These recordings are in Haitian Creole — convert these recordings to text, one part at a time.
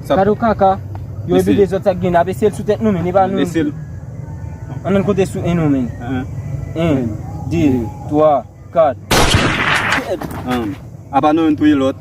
Gadon kaka, yo e bide zot sak gen, ap esel sou tet nou men, e pa nou esel. An nan kote sou en nou men. En, de, twa, kat. En, apa nou en touye lot.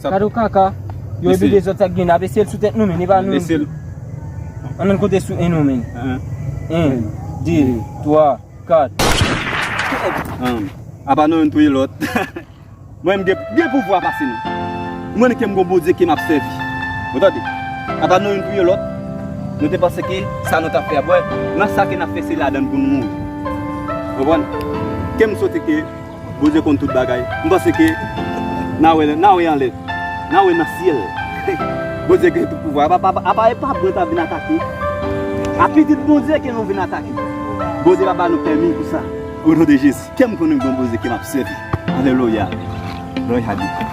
Gade yon kaka, yo epi de zòt sa k gen, nap eseye l sou tèt nou menn, epa nou menm. An nou konte sou 1 nou menn. 1, 2, 3, 4. Apa nou youn touye lòt. Mwen m gen plis pouvwa pase nou. Mwen menm kem gon Bondye ke map sèvi. Ou tande? Apa nou youn touye lòt. Nou te panse ke sa nou tap fè a, wè nan sa ke nap fè se ladann pou nou mouri. Konprann? Kem sote ke. Bondye konn tout bagay. M panse ke na wè na wè anlè. Na wè nan syèl. Bondye gen tout pouvwa. Apa e pa bwè ta vin atake. A pitit Bondye ke nou vin atake. Bondye pa ba nou pèmi pou sa. O non de Jezi. Kèm konnen gon Bondye ke map sèvi. Alelouya. Glòri a Dye.